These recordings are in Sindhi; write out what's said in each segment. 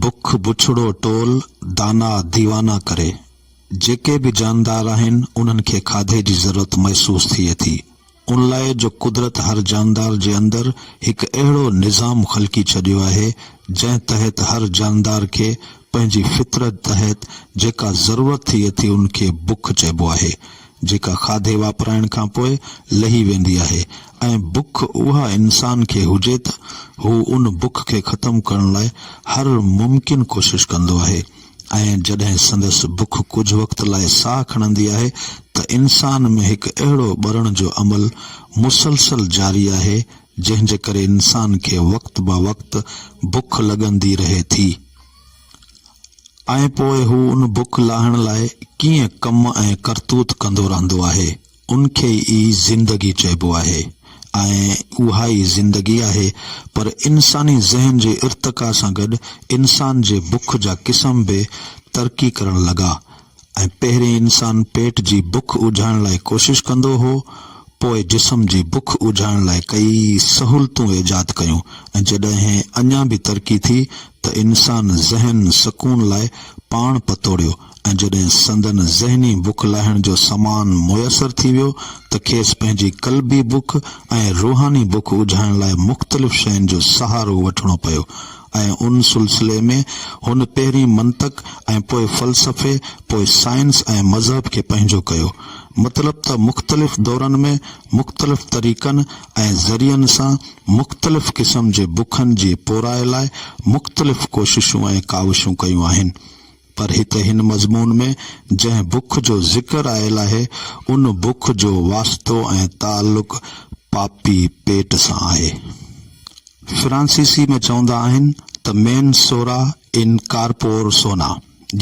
بک بڇڙو ٽول دانا ديوانا ڪري. جيڪي به جاندار آهن انهن کي کاڌي جي ضرورت محسوس ٿئي ٿي. ان لاء جو قدرت هر جاندار جي اندر هڪ اهڙو نظام خلقي ڇڏيو آهي جنهن تحت هر جاندار کي پنهنجي فطرت تحت جيڪا ضرورت ٿئي ٿي ان کي بک چئبو آهي جيڪا کاڌي واپرائڻ کان پوء لهي ويندي آهي ۽ بک اها انسان کي هجي ته هو ان بک کي ختم ڪرڻ لاء هر ممڪن ڪوشش ڪندو آهي ۽ جڏهن سندس بک ڪجهه وقت لاء ساهه کڻندي آهي ته انسان ۾ هڪ اهڙو ٻرڻ جو عمل مسلسل جاري آهي جنهن جي ڪري انسان کي وقت با وقت بک لڳندي رهي ٿي. ۽ پوء هو ان بک لاهڻ لاء ڪيئن ڪم ۽ ڪرتوت ڪندو رهندو آهي، ان کي ئي زندگي چئبو آهي ۽ اها ئي زندگي آهي، پر انساني ذهن جي ارتقا سان گڏ انسان جي بک جا قسم به ترقي ڪرڻ لڳا، ۽ پهرين انسان پيٽ جي بک اجهائڻ لاء ڪوشش ڪندو هو، پوء جسم جي بک اجهائڻ لاء ڪيئي سهولتون ايجاد ڪيون ۽ جڏهن اڃا به ترقي ٿي ته انسان ذهن سڪون لاء پاڻ پتوڙيو ۽ جڏهن سندن ذهني بک لاهڻ جو سامان ميسر ٿي ويو ته کيس پنهنجي قلبي بک ۽ روحاني بک اجهائڻ لاء مختلف شين جو سهارو وٺڻو پيو ۽ ان سلسلي ۾ هن پهرين منطق ۽ پوء فلسفي، پوء سائنس ۽ مذهب کي پنهنجو ڪيو. مطلب ته مختلف دورن ۾ مختلف طريقن ۽ ذريعن سان مختلف قسم جي بکن جي پورائي لاء مختلف ڪوششون ۽ ڪاوشون ڪيون آهن. پر هتي هن مضمون ۾ جنهن بک جو ذڪر آيل آهي، ان بک جو واسطو ۽ تعلق پاپي پيٽ سان آهي. فرانسيسي ۾ چوندا آهن ته مين سورا ان ڪارپور سونا،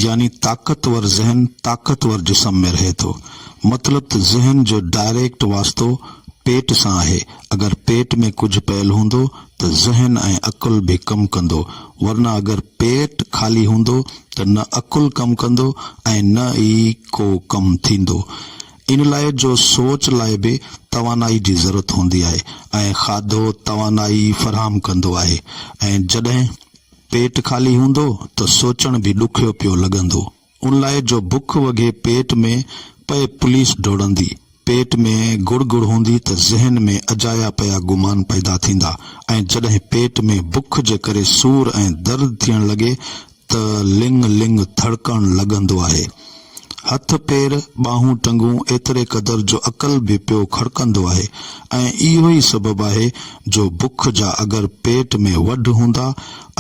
يعني طاقتور ذهن طاقتور جسم ۾ رهي ٿو. مطلب ته ذهن جو ڊائريڪٽ واسطو پيٽ سان آهي، اگر پيٽ ۾ ڪجهه پيل هوندو ته ذهن ۽ عقل به ڪم ڪندو، ورنه اگر پيٽ خالي هوندو ته نه عقل ڪم ڪندو ۽ نه ئي ڪو ڪم ٿيندو. ان لاء جو سوچ لاء به توانائي جي ضرورت هوندي آهي ۽ کاڌو توانائي فراهم ڪندو آهي ۽ جڏهن پيٽ خالي هوندو ته سوچڻ به ڏکيو پيو لڳندو. ان لاء جو بک وگهي پيٽ ۾ پئي پوليس ڊوڙندي، پيٽ ۾ گڙ گڙ هوندي ته ذهن ۾ اجايا پيا گمان پيدا ٿيندا ۽ جڏهن پيٽ ۾ بک جي ڪري سور ۽ درد ٿيڻ لڳي ته لڱ لڱ ٿڙڪڻ لڳندو آهي. هٿ پير، ٻانهون ٽنگون ايتري قدر جو عقل به پيو کڙڪندو آهي ۽ اهو ئي سبب آهي جو بک جا اگر پيٽ ۾ وڍ هوندا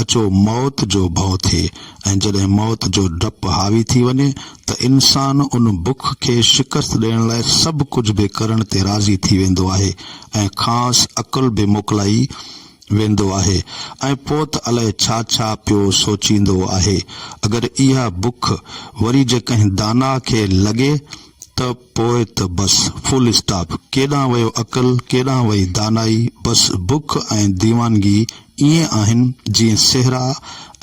اچو موت جو ڀؤ ٿئي ۽ جڏهن موت جو ڊپ حاوي ٿي وڃي ته انسان ان بک کي شڪست ڏيڻ لاء سڀ ڪجهه به ڪرڻ تي راضي ٿي ويندو آهي ۽ کانئس عقل به موڪلائي ويندو آهي ۽ پوء ته الائي ڇا ڇا پيو سوچيندو آهي. اگر اها بک وري جي ڪنهن داناء کي لڳي ته. پوء ته بس فل اسٽاپ. ڪيڏانهن ويو عقل، ڪيڏانهن وئي دانائي، بس بک ۽ ديوانگي ائين آهن جيئن صحرا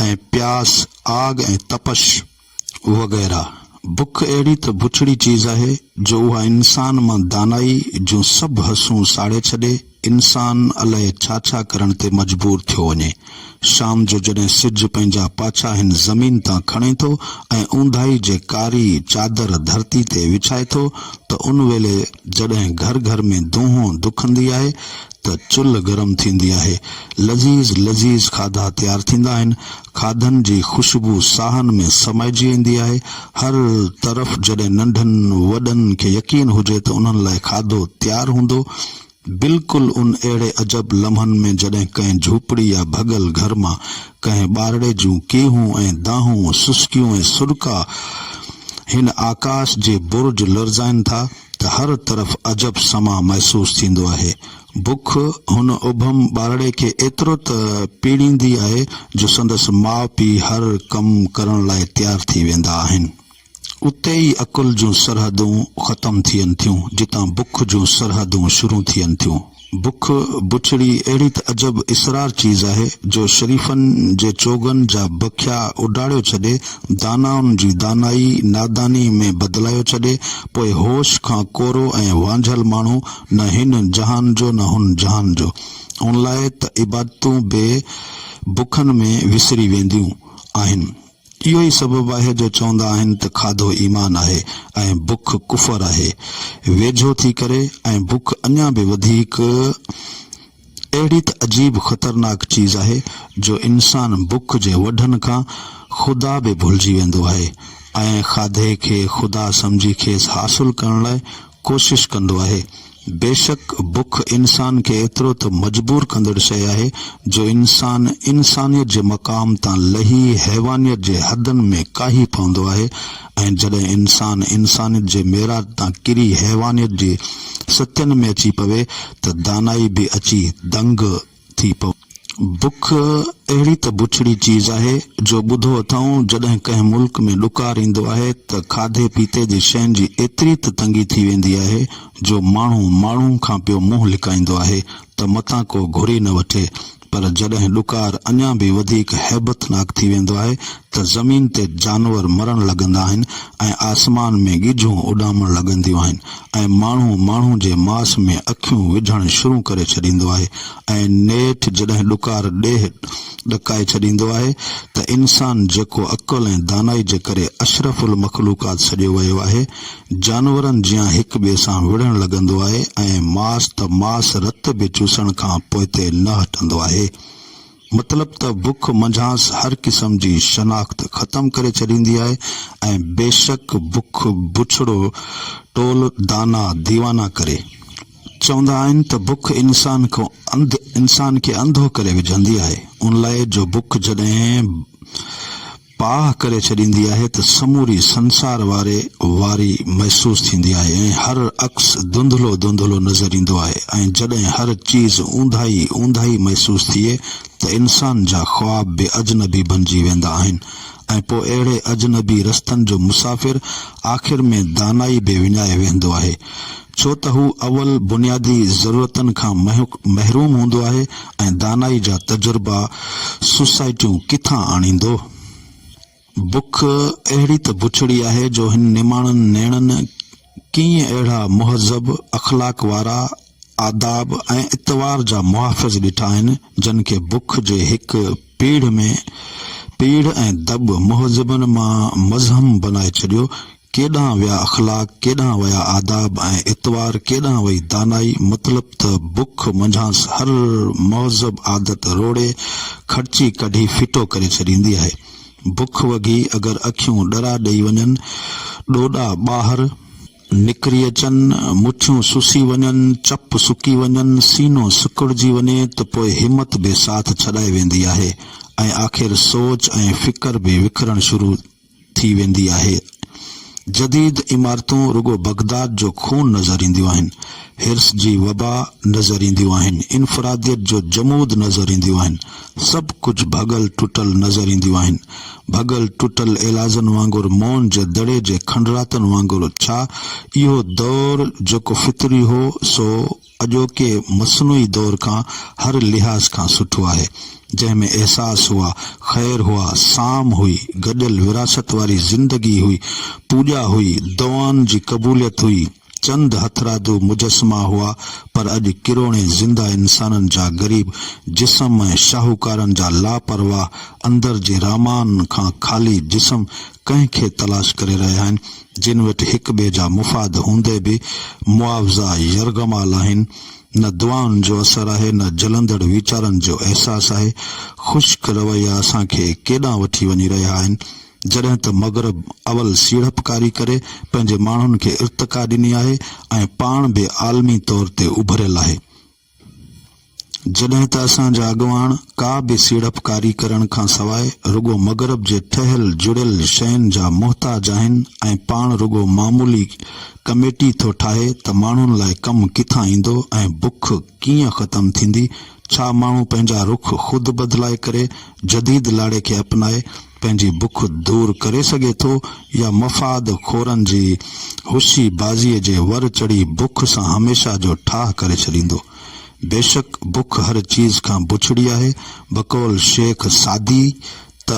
۽ پياس، آگ ۽ تپش وغيره. بک اهڙي ته بڇڙي چيز آهي جو اها انسان مان دانائي جون سڀ حسون ساڙي ڇڏي. انسان الائي ڇا ڇا ڪرڻ تي مجبور ٿيو وڃي. شام جو جڏهن سج پنهنجا پاڇا هن زمين تان کڻي ٿو ۽ اونداهي جي ڪاري چادر ڌرتي تي وڇائي ٿو ته ان ويلي جڏهن گهر گهر ۾ دونهون دکندي آهي ته چلهه گرم ٿيندي آهي لذيذ لذيذ کاڌا تيار ٿيندا آهن کاڌن جي خوشبو ساهن ۾ سمائجي ويندي آهي هر طرف جڏهن ننڍن وڏن کي يقين هجي ته انهن لاء کاڌو تيار هوندو بلڪل ان اهڙي عجب لمحن ۾ جڏهن ڪنهن جهوپڙي يا ڀڳل گهر مان ڪنهن ٻارڙي جون ڪيهون ۽ دانهون، سسڪيون ۽ سڏڪا هن آڪاس جي برج لرزائين ٿا ته هر طرف عجب سماء محسوس ٿيندو آهي. بک هن ابهم ٻارڙي کي ايترو ته پيڙيندي آهي جو سندس ماء پيء هر ڪم ڪرڻ لاء تيار ٿي ويندا آهن. اتي ئي عقل جون سرحدون ختم ٿين ٿيون، جتان بک جون سرحدون شروع ٿين ٿيون. بک، بڇڙي، اهڙي ته عجب اسرار چيز آهي، جو شريفن جي چوغن جا بکيا اڊاڙيو ڇڏي، دانائن جي دانائي ناداني ۾ بدلايو ڇڏي، پوء هوش کان ڪورو ۽ وانجهل ماڻهو نه هن جهان جو نه هن جهان جو. ان لاء ته عبادتون به بکن ۾ وسري وينديون آهن. اهو ئي سبب آهي جو چوندا آهن ته کاڌو ايمان آهي ۽ بک ڪفر آهي. ويجهو ٿي ڪري ۽ بک اڃا به وڌيڪ اهڙي ته عجيب خطرناڪ چيز آهي جو انسان بک جي وڍن کان خدا به ڀلجي ويندو آهي ۽ کاڌي کي خدا سمجهي کيس حاصل ڪرڻ لاء ڪوشش ڪندو آهي. بيشڪ بک انسان کي ايترو ته مجبور ڪندڙ شيء آهي جو انسان انسانيت جي مقام تان لهي حيوانيت جي حدن ۾ ڪاهي پوندو آهي ۽ جڏهن انسان انسانيت جي معراج تان ڪري حيوانيت جي ستين ۾ اچي پوي ته دانائي به اچي دنگ ٿي پئو. بک اهڙي ته بڇڙي چيز آهي جو ٻڌو اٿئون جڏهن ڪنهن ملڪ ۾ ڏڪار ايندو آهي ته کاڌي پيتي جي شين جي ايتري ته تنگي ٿي ويندي آهي جو ماڻهو ماڻهو کان پيو منهن لڪائيندو آهي ته متان ڪو گهري نه وٺي پر جڏهن ڏڪار اڃا به وڌيڪ هيبتناڪ ٿي ويندو آهي ته زمين تي جانور مرڻ لڳندا آهن ۽ آسمان ۾ ڳجهون اڏامڻ لڳنديون آهن ۽ ماڻهو ماڻهو جي ماس ۾ اکيون وجهڻ شروع ڪري ڇڏيندو آهي ۽ نيٺ جڏهن ڏڪار ڏيهه ڏڪائي ڇڏيندو آهي ته انسان جيڪو عقل ۽ دانائي جي ڪري اشرف المخلوقات سڏيو ويو آهي جانورن جيان هڪ ٻئي سان وڙهڻ لڳندو آهي ۽ ماس ته ماس رت به چوسڻ کان پوئتي نه هٽندو آهي. مطلب ته بک منجهانس هر قسم جي شناخت ختم ڪري ڇڏيندي آهي ۽ بيشڪ بک بڇڙو ٽول دانا ديوانا ڪري. چوندا آهن ته بک انسان کان انسان کي انڌو ڪري وجهندي آهي ان لاء جو بک جڏهن پاهه ڪري ڇڏيندي آهي ته سموري سنسار واري واري محسوس ٿيندي آهي ۽ هر عڪس ڌنڌلو ڌنڌلو نظر ايندو آهي ۽ جڏهن هر چيز اونداهي اونداهي محسوس ٿئي ته انسان جا خواب به اجنبي بنجي ويندا آهن ۽ پوء اهڙي اجنبي رستن جو مسافر آخر ۾ دانائي به وڃائي ويهندو آهي ڇو ته هو اول بنيادي ضرورتن کان محروم هوندو آهي ۽ دانائي جا تجربا سوسائٽيون ڪٿان آڻيندو؟ بک اهڙي ته بڇڙي آهي جو هن نماڻن نيڻن ڪيئي اهڙا مهذب، اخلاق وارا، آداب ۽ اطوار جا محافظ ڏٺا آهن، جن کي بک جي هڪ پيڙهه ۾ پيڙهه ۽ دٻ مهذبن مان مزحم بنائي ڇڏيو، ڪيڏانهن ويا اخلاق، ڪيڏانهن ويا آداب ۽ اطوار، ڪيڏانهن وئي دانائي، مطلب ته بک منجهانس هر مهذب عادت روڙي، کڙچي ڪڍي ڦٽو ڪري ڇڏيندي آهي. بک وگهي اگر اکيون ڏرا ڏئي وڃن، ڏوڏا ٻاهر. نڪري اچن، مٺيون سسي وڃن، چپ سڪي وڃن، سينو سڪڙجي وڃي ته پوء همت به ساٿ ڇڏائي ويندي آهي ۽ آخر سوچ ۽ فڪر به وکرڻ شروع ٿي ويندي آهي. جديد عمارتون رڳو بغداد جو خون نظر اينديون آهن، حرص جي وبا نظر اينديون آهن، انفراديت جو جمود نظر اينديون آهن، سڀ ڪجهه ڀڳل ٽٽل نظر اينديون آهن. ڀڳل ٽٽل ايلازن وانگر مون جي دڙي جي کنڊراتن وانگر ڇا اهو دور جيڪو فطري هو سو اڄوڪي مصنوعي دور کان هر لحاظ کان سٺو آهي، جنهن ۾ احساس هئا، خير هئا، سام هئي، گڏيل وراثت واري زندگي هئي، پوڄا هئي، دعائن جي قبوليت هئي، چند هٿرادو مجسما هئا، پر اڄ ڪروڙين زنده انسانن جا غريب جسم ۽ شاهوڪارن جا لاپرواهه اندر جي رامان کان خالي جسم ڪنهن کي تلاش ڪري رهيا آهن، جن وٽ هڪ ٻئي جا مفاد هوندي به معاوضا يرغمال آهن، نه دعائن جو اثر آهي نه جلندڙ ويچارن جو احساس آهي. خشڪ رويا اسان کي ڪيڏانهن وٺي وڃي رهيا آهن. جڏهن ته مغرب اول سيڙپڪاري ڪري پنهنجي ماڻهن کي ارتقا ڏني آهي ۽ پاڻ به عالمي طور تي اڀريل آهي. جڏهن ته اسان جا اڳواڻ ڪا به سيڙپڪاري ڪرڻ کان سواء رڳو مغرب جي ٺهيل جڙيل شين جا محتاج آهن ۽ پاڻ رڳو معمولي ڪميٽي ٿو ٺاهي ته ماڻهن لاء ڪم ڪٿان ايندو ۽ بک ڪيئن ختم ٿيندي؟ ڇا ماڻهو پنهنجا رخ خود بدلائي ڪري جديد لاڙي کي اپنائي پنهنجي بک دور ڪري سگهي ٿو يا مفاد خورن جي هوشي بازيء جي ور چڙهي بک سان هميشه جو ٺاهه ڪري ڇڏيندو. بيشڪ بک هر چيز کان بڇڙي آهي، بقول شيخ سعدي ته.